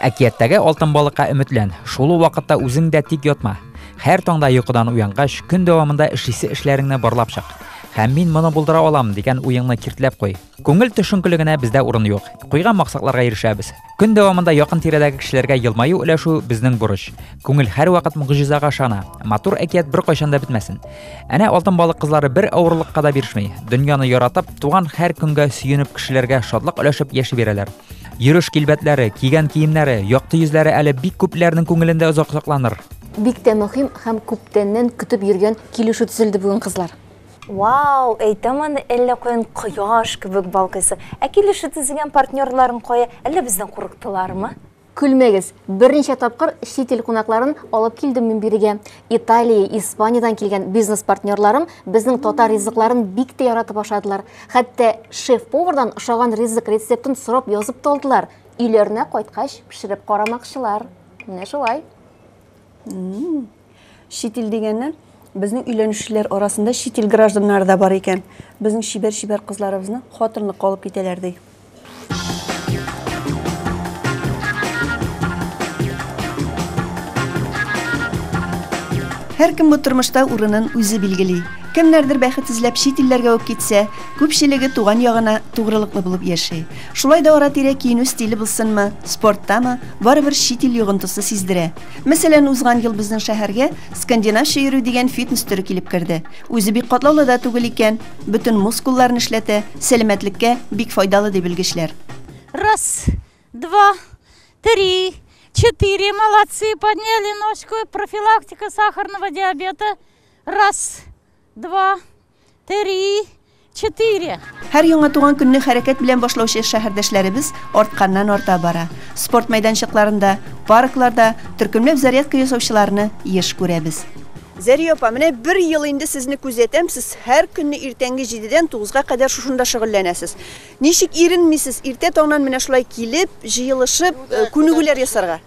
Әкияттәге алтын балыкка өметлән, шул ук вакытта үзең дә тик ятма. Һәр таңда йокыдан уянгач, көн дәвамында эшлисе эшләреңне барлап чык. Һәм мин моны булдыра алам дигән уеңны киртләп куй. Күңел төшенкелегенә бездә урын юк. Куйган максатларга ирешәбез. Көн дәвамында якын тирәдәге кешеләргә елмаю өләшү безнең бурыч. Күңел һәрвакыт мөгъҗизага ышана. Матур әкият беркайчан да бетмәсен. Әнә алтын балык кызлары бер авырлыкка да бирешми. Дөньяны яратып, туган һәр көнгә сөенеп, кешеләргә шатлык өләшеп яши бирәләр. Йөреш килбәтләре, кигән киемнәре, якты йөзләре әле бик күпләрнең күңелендә озак сакланыр. Бик тә мөһим һәм күптәннән көтеп йөргән килешү төзелде бүген, кызлар. Вау, әйтәм аны, әллә каян кояш кебек балкыйсы. Ә килешү төзегән партнерларың кая? Әллә бездән курыктылармы? Көлмәгез, берничә тапкыр чит ил кунакларын алып килдем мин бирегә. Италия, Испаниядән килгән бизнес-партнерларым безнең татар ризыкларын бик тә яратып ашадылар. Хәтта шеф-повардан ошаган ризык рецептын сорап язып та алдылар. Өйләренә кайткач, пешереп карамакчылар. Менә шулай. Чит ил дигәннән, безнең өйләнүчеләр арасында чит ил гражданнары да бар икән. Безнең чибәр-чибәр кызларыбызны хатынлыкка алып китәләр, ди. Һәркем бу тормышта урынын үзе билгели. Кемнәрдер бәхет эзләп чит илләргә үк китсә, күпчелеге туган ягына тугрылыклы булып яши. Шулай да ара-тирә киенү стиле булсынмы, спорттамы, барыбер чит ил йогынтысы сиздерә. Мәсәлән, узган ел безнең шәһәргә скандинавча йөрү дигән фитнес төре килеп керде. Үзе бик катлаулы да түгел икән. Бөтен мускулларны эшләтә, сәламәтлеккә бик файдалы ди белгечләр. Раз, два, три, четыре, молодцы, подняли ножку, профилактика сахарного диабета. Раз, два, три, четыре. Һәр яңа туган көнне хәрәкәт белән башлаучы шәһәрдәшләребез артканнан-арта бара. Спорт мәйданчыкларында, паркларда төркемләп зарядка ясаучыларны еш күрәбез. Зәри апа, менә бер ел инде сезне күзәтәм, сез һәр көнне иртәнге җидедән тугызга кадәр шушында шөгыльләнәсез. Ничек иренмисез иртә таңнан менә шулай килеп, җыелышып, күнегүләр ясарга?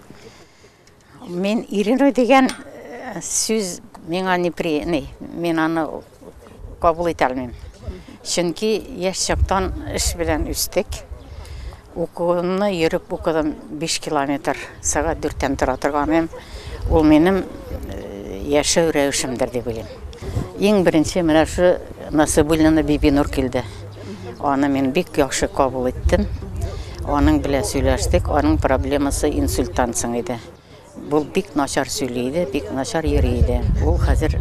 Мин иренү дигән сүз миңа неприятный, мин аны Кабул итә алмыйм. Чөнки яшь чактан эш белән үстек. Укуымны йөреп укыдым 5 километр сәгать дүрттән тора торганым. Ул минем э, яшәү рәвешемдер дип уйлыйм. Иң беренче менә шу Насыбуллина Бибинур килде. Аны мин бик яхшы кабул иттем. Аның белән сөйләштек. Аның проблемасы инсульттан соң иде. Ул бик начар сөйли иде, бик начар йөри иде. Ул хәзер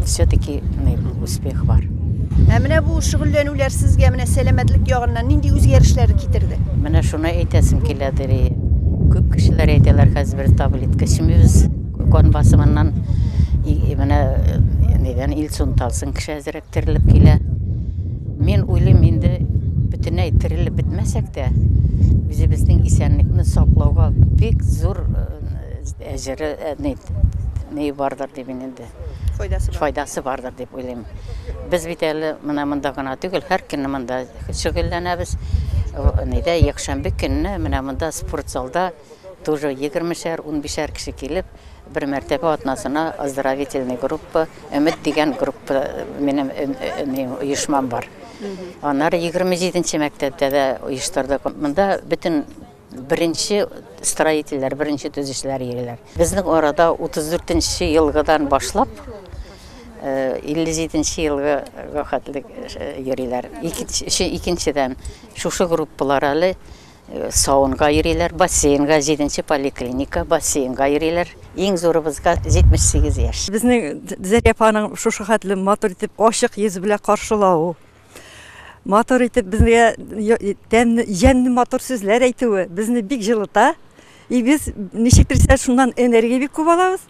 все-таки успех бар. Ә менә бу шөгыльләнүләр сезгә менә сәламәтлек ягыннан нинди үзгәрешләр китерде? Менә шуны әйтәсем килә, Дери. Күп кешеләр әйтәләр, хәзер без таблетка эчмибез, кан басымыннан менә нидән инсульт алсын кеше әзрәк. терелеп килә. Мин уйлыйм, инде бөтенләй терелеп бетмәсәк тә, үзебезнең исәнлекне саклауга бик зур әҗере, ни бардыр дип мин инде. Файдасы бар. Файдасы бардыр дип уйлыйм. Без бит әле менә монда гына түгел, һәр көнне монда шөгыльләнәбез. Нидә якшәмбе көнне менә монда спортзалда. Тоже егермешәр, унбишәр кеше килеп, бер мәртәбә атнасына оздоровительный группа, Өмет дигән группа, минем оешмам бар. Аннары егерме җиденче мәктәптә дә оештырдык. Монда бөтен беренче строительләр, беренче төзүчеләр йөриләр. Безнең арада 34 нче елгыдан башлап 57 нче елга хәтле йөриләр. Икенчедән шушы группалар әле Сауынга йөриләр, бассейнга, җиденче поликлиника, бассейнга йөриләр. Иң зурыбызга 78 яшь. Безне Зәки апаның шушы хәтле матур итеп, ачык йөз белән каршылавы, матур итеп безгә тәмле, җәнле матур сүзләр әйтүе безне бик җылыта. И без ничектер исә шуннан энергия бик күп алабыз.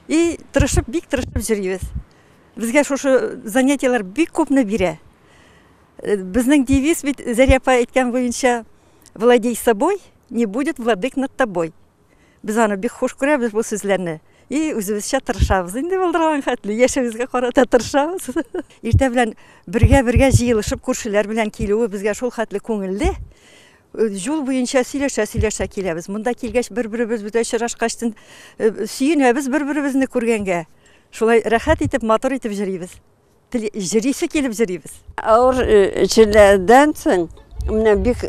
И тырышып, бик тырышып җөрибез. Безгә шушы занятиеләр бик күпне бирә. Безнең девиз бит Зәрия апа әйткән буенча владей собой, не будет владык над тобой. Без аны бик хуш күрәбез бу сүзләрне. И үзебезчә тырышабыз инде булдырган хәтле, яшәвезгә карата тырышабыз. Иртә белән бергә-бергә җыелышып күршеләр белән килүе безгә шул хәтле күңелле. Юл буенча сөйләшә-сөйләшә киләбез. Монда килгәч бер-беребез бүтә очрашкачтын сөенәбез бер-беребезне күргәнгә. Шулай рәхәт итеп, матур итеп җөрибез. Тел җырисе килеп җырыйбыз. Авыр чирләрдән соң, менә бик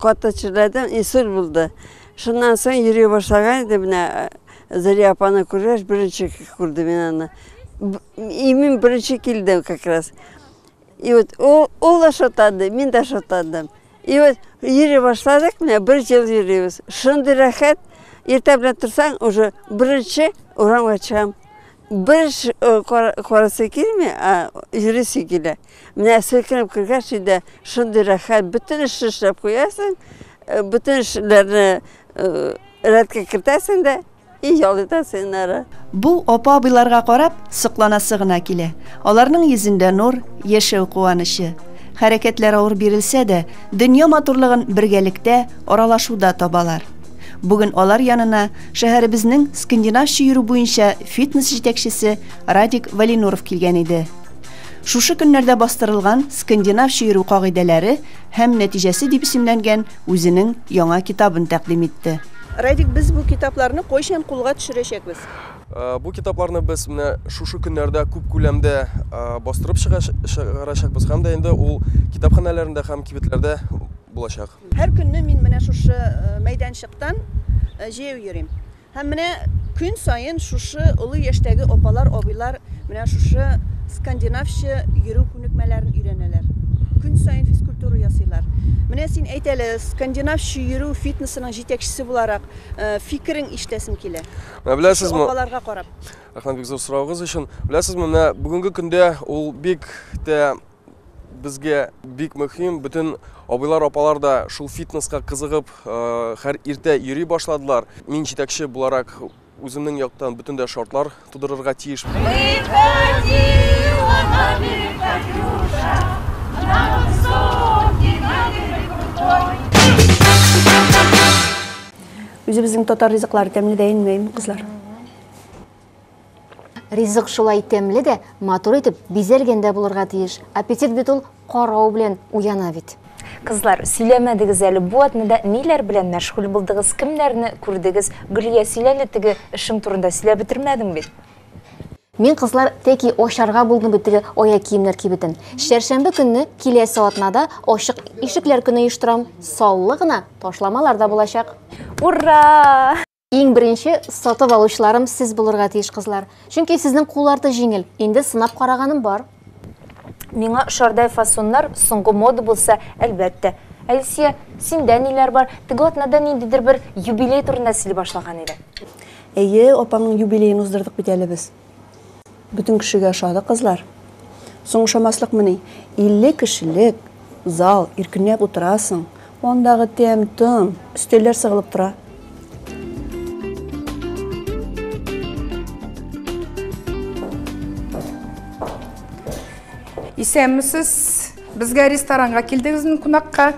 каты чирләрдән инсульт булды. Шуннан соң йөри башлаган иде, менә Зәлия апаны күргәч, беренче күрдем мин аны. Имин беренче килдем как раз. И вот ул, ул да шатады, мин дә шатадым. И вот йөри башладык, менә бер ел йөрибез. Шундый рәхәт, иртә белән торсаң, уже беренче урамга чыгам. Бер карасы килми, а йөрисе килә. Менә селкенеп кергәч инде шундый рәхәт, бөтен эшне эшләп куясың, бөтен эшләрне рәткә кертәсең дә. И ял итә сыеннары. Бу апа-абыйларга карап, сокланасы гына килә. Аларның йөзендә нур, яшәү куанычы. Хәрәкәтләр авыр бирелсә дә, дөнья матурлыгын бергәлектә, аралашуда табалар. Бүген алар янына шәһәребезнең скандинавча йөрү буенча фитнес җитәкчесе Радик Валинуров килгән иде. Шушы көннәрдә бастырылган скандинавча йөрү кагыйдәләре һәм нәтиҗәсе дип исемләнгән үзенең яңа китабын тәкъдим итте. Радик, без бу китапларны кайчан кулга төшерәчәкбез? Бу китапларны без менә шушы көннәрдә күп күләмдә бастырып чыгарачакбыз һәм дә инде ул китапханәләрендә һәм кибетләрдә булачак. Һәр көнне мин менә шушы мәйданчыктан җәяү йөрим. Һәм менә көн саен шушы олы яшьтәге апалар, абыйлар менә шушы скандинавча йөрү күнекмәләрен өйрәнәләр. Көн саен физкультура ясыйлар. Менә син әйт әле, скандинавча йөрү фитнесының җитәкчесе буларак, фикерең ишетәсем килә. Менә беләсезме? Шушы апаларга карап. Рәхмәт бик зур соравыгыз өчен. Беләсезме, менә бүгенге көндә ул бик тә Безгә бик мөһим, бөтен абыйлар, апалар да шул фитнеска кызыгып, хәр иртә йөри башладылар. Мин җитәкче буларак үземнең яктан бөтен дә шартлар тудырырга тиеш. Үзебезнең татар ризыклары тәмле дә инмәйме, кызлар? Ризык шулай тәмле дә, матур итеп бизәлгән дә булырга тиеш. Аппетит бит ул карау белән уяна бит. Кызлар, сөйләмәдегез әле, бу атнада ниләр белән мәшгуль булдыгыз, кемнәрне күрдегез? Гөлия, син әле теге эшең турында сөйләп бетермәдең бит. Мин, кызлар, тәки ачарга булдым бит теге аяк киемнәр кибетен. Чәршәмбе көнне киләсе атнада ачык ишекләр көне оештырам. Саллы гына ташламалар да булачак. Ура! Иң беренче сатып алучыларым сез булырга тиеш кызлар. Чөнки сезнең кулларда җиңел. Инде сынап караганым бар. Миңа шардай фасоннар соңгы мода булса, әлбәттә. Әлсия, синдә ниләр бар? Теге атнада ниндидер бер юбилей турында сөйли башлаган иде. Әйе, апаңның юбилеен уздырдык бит әле без. Бөтен кешегә ошады, кызлар. Соң ошамаслыкмыни? 50 кешелек зал, иркенләп утырасың. Андагы тәм-том, өстәлләр сыгылып тора. Исәнмесез. Безгә ресторанга килдегезме кунакка?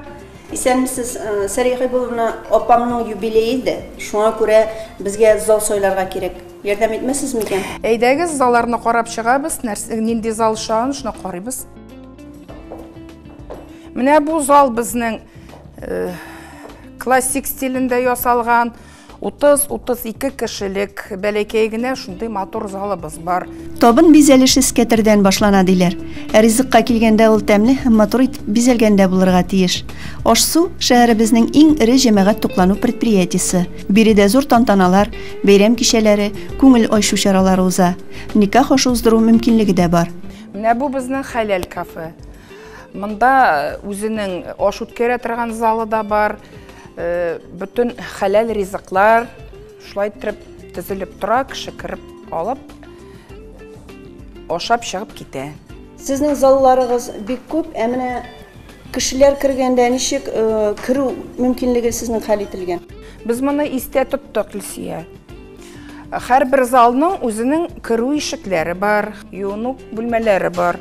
Исәнмесез, Сәрия Хәйбулловна, апамның юбилее иде. Шуңа күрә безгә зал сайларга кирәк. Ярдәм итмәсез микән? Әйдәгез, залларны карап чыгабыз, нәрсә, нинди зал шагын, шуны карыйбыз. Менә бу зал безнең э, классик стилендә ясалган 30-32 кешелек бәләкәй генә шундый матур залыбыз бар. Табын бизәлеше скәтердән башлана диләр. Ә ризыкка килгәндә ул тәмле һәм матур итеп бизәлгәндә булырга тиеш. Аш-су шәһәребезнең иң эре җәмәгать туклану предприятиесе. Биредә зур тантаналар, бәйрәм кичәләре, күңел айшу чаралары уза. Никах ашы уздыру мөмкинлеге дә бар. Менә бу безнең хәләл кафе. Монда үзенең аш үткәрә торган залы да бар. Э, бөтен хәләл ризыклар шулай итеп төзелеп тора, кеше кереп алып, ашап чыгып китә. Сезнең залларыгыз бик күп, ә менә Кешеләр кергәндә ничек керү мөмкинлеге сезнең хәл ителгән? Без моны истә тоттык, Илсия. Һәрбер залның үзенең керү ишекләре бар, юыну бүлмәләре бар.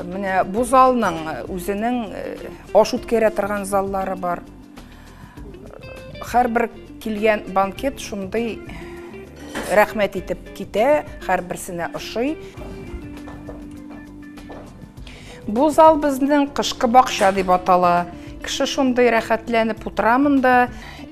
Менә бу залның үзенең аш үткәрә торган заллары бар. Һәрбер килгән банкет шундый рәхмәт итеп китә, һәрберсенә ошый. Бу зал безнең кышкы бакча дип атала. Кеше шундый рәхәтләнеп утыра монда.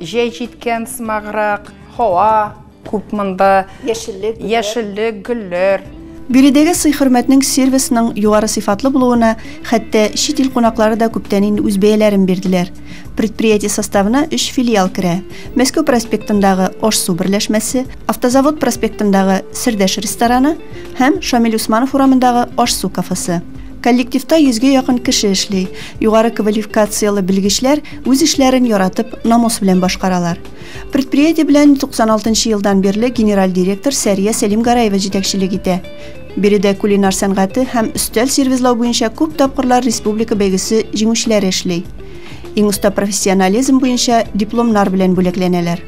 Җәй җиткән сымаграк, һава Күп монда яшеллек, яшеллек, гөлләр. Биредәге сый-хөрмәтнең сервисның югары сыйфатлы булуына хәтта чит ил кунаклары да күптән инде үз бәяләрен бирделәр. Предприятие составына өч филиал керә. Мәскәү проспектындагы Аш-су берләшмәсе, Автозавод проспектындагы Сердәш рестораны һәм Шамил Усманов урамындагы Аш-су кафесы. Коллективта йөзгә якын кеше эшли. Югары квалификацияле белгечләр үз эшләрен яратып, намус белән башкаралар. Предприятие белән 96 нчы елдан бирле генераль директор Сәрия Сәлимгараева җитәкчелек итә. Биредә кулинар сәнгате һәм өстәл сервизлау буенча күп тапкырлар республика бәйгесе җиңүчеләре эшли. Иң оста профессионализм буенча дипломнар белән бүләкләнәләр.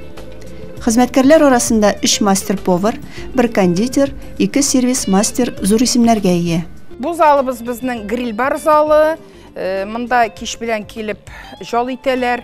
Хезмәткәрләр арасында 3 мастер-повар, 1 кондитер, 2 сервис-мастер зур исемнәргә ия. Бу залыбыз безнең гриль-бар залы. Э, монда кич белән килеп жал итәләр.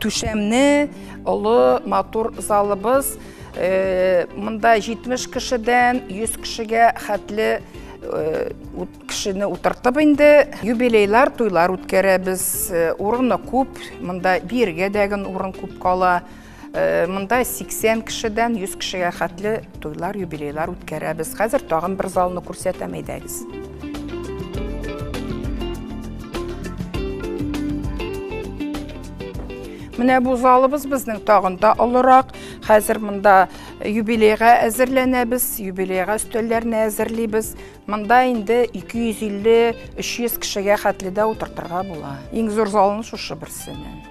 түшәмне олы матур залыбыз э, монда 70 кешедән 100 кешегә хәтле э, кешене утыртып инде юбилейлар туйлар үткәрәбез э, урыны күп монда биергә дәген урын күп кала Э, монда 80 кешедән 100 кешегә хәтле туйлар, юбилейлар үткәрәбез. Хәзер тагын бер залны күрсәтәм, әйдәгез. Менә бу залыбыз безнең тагын да олырак. Хәзер монда юбилейга әзерләнәбез, юбилейга өстәлләрне әзерлибез. Монда инде 250-300 кешегә хәтле дә утыртырга була. Иң зур залны шушы берсенең.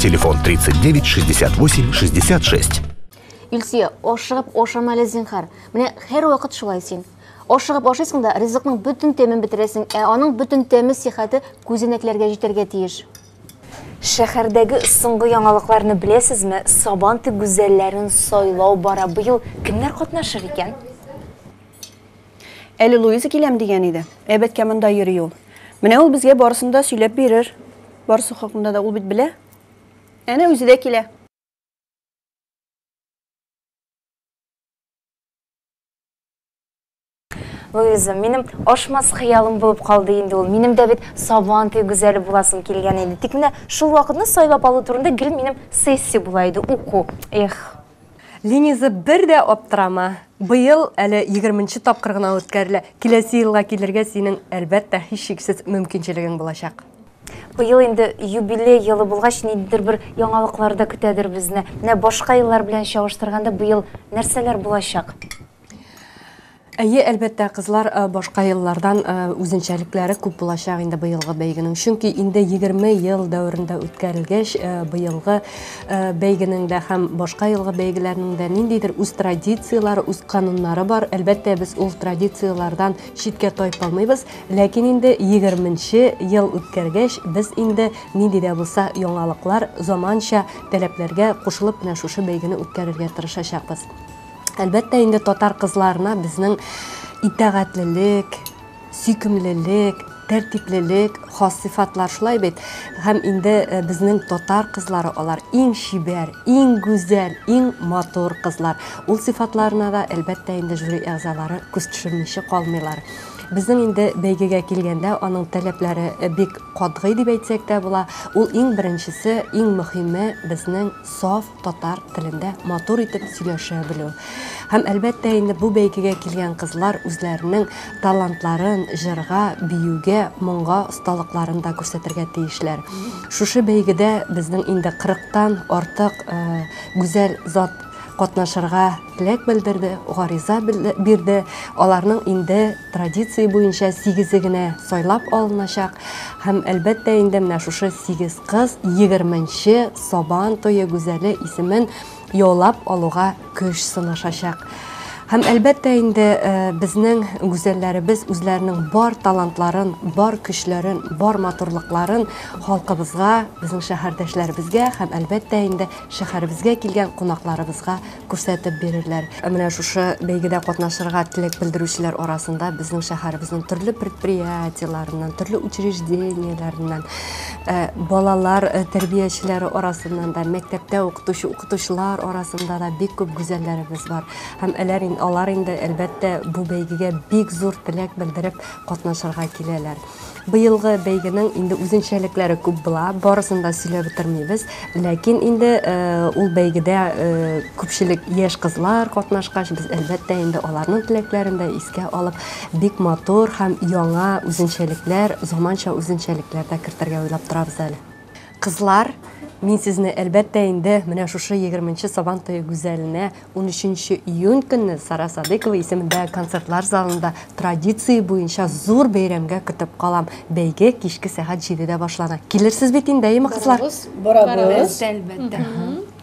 Телефон 39 68 66. Илсия, ашыгып ашама әле зинхар. Менә һәр вакыт шулай син. Ашыгып ашыйсың да, ризыкның бөтен тәмен бетерәсең, ә аның бөтен тәме сихәте күзенәкләргә җитәргә тиеш. Шәһәрдәге соңгы яңалыкларны беләсезме? Сабантуй гүзәлләрен сайлау бара. Быел кемнәр катнашыр икән? Әле Луиза киләм дигән иде. Әбәткә монда йөри ул. Менә ул безгә барысын да сөйләп бирер. Барысы хакында да ул бит белә. Әнә үзе дә килә. Луиза, минем ашмас хыялым булып калды инде ул. Минем дә бит сабантуй гүзәле буласым килгән иде. Тик менә шул вакытны сайлап алу турында гел минем сессия була иде, уку. Эх. Линиза, бер дә аптырама. Быел әле егерменче тапкыр гына үткәрелә. Киләсе елга килергә синең, әлбәттә, һичшиксез мөмкинчелегең булачак. Быел инде юбилей елы булгач, ниндидер бер яңалыклар да көтәдер безне. Менә башка еллар белән чагыштырганда, быел нәрсәләр булачак? Әйе, әлбәттә, кызлар башка еллардан үзенчәлекләре күп булачак инде быелгы бәйгенең. Чөнки инде 20 ел дәверендә үткәрелгәч, быелгы бәйгенең дә һәм башка елгы бәйгеләрнең дә ниндидер үз традицияләре, үз кануннары бар. Әлбәттә, без ул традицияләрдән читкә тайпа алмыйбыз, ләкин инде 20 нче ел үткәргәч, без инде нинди дә булса яңалыклар, заманча таләпләргә кушылып кенә шушы бәйгене үткәрергә тырышачакбыз. Әлбәттә инде татар кызларына безнең итәгатьлелек, сөйкемлелек, тәртиплелек хас сыйфатлар шулай бит. Һәм инде э, безнең татар кызлары алар иң чибәр, иң гүзәл, иң матур кызлар. Ул сыйфатларына да әлбәттә инде жюри әгъзалары күз төшермичә калмыйлар. Безнең инде бәйгегә килгәндә аның таләпләре э, бик катгый дип әйтсәк тә була. Ул иң беренчесе, иң мөһиме безнең саф татар телендә матур итеп сөйләшә белү. Һәм әлбәттә инде бу бәйгегә килгән кызлар үзләренең талантларын җырга, биюгә, моңга осталыкларын да күрсәтергә тиешләр. Шушы бәйгедә безнең инде 40тан артык э, гүзәл зат катнашырга теләк белдерде, гариза бирде. Аларның инде традиция буенча сигезе генә сайлап алыначак. Һәм әлбәттә инде менә шушы сигез кыз 20 Сабан тое гүзәле исемен яулап алуга көч сынашачак. Һәм әлбәттә инде э, безнең гүзәлләребез үзләренең бар талантларын, бар көчләрен, бар матурлыкларын халкыбызга, безнең шәһәрдәшләребезгә һәм әлбәттә инде шәһәребезгә килгән кунакларыбызга күрсәтеп бирерләр. Ә менә шушы бәйгедә катнашырга теләк белдерүчеләр арасында безнең шәһәребезнең төрле предприятиеләреннән, төрле учреждениеләреннән, балалар тәрбиячеләре арасыннан да, мәктәптә укытучы укытучылар арасында да бик күп гүзәлләребез бар. Һәм әләр ин алар инде, әлбәттә, бу бәйгегә бик зур теләк белдереп катнашырга киләләр. Быелгы бәйгенең инде үзенчәлекләре күп була, барысын да сөйләп бетермибез. Ләкин инде э, ул бәйгедә э, күпчелек яшь кызлар катнашкач, без әлбәттә инде аларның теләкләрен дә искә алып, бик матур һәм яңа үзенчәлекләр, заманча үзенчәлекләр дә кертергә уйлап торабыз әле. Кызлар, мин сезне, әлбәттә инде, менә шушы егерменче Сабан туе гүзәленә, унөченче июнь көнне Сара Садыйкова исемендә концертлар залында традиция буенча зур бәйрәмгә көтеп калам. Бәйге кичке сәгать җидедә башлана. Килерсез бит инде, әйеме, кызлар? Барабыз, барабыз. Әлбәттә, әлбәттә.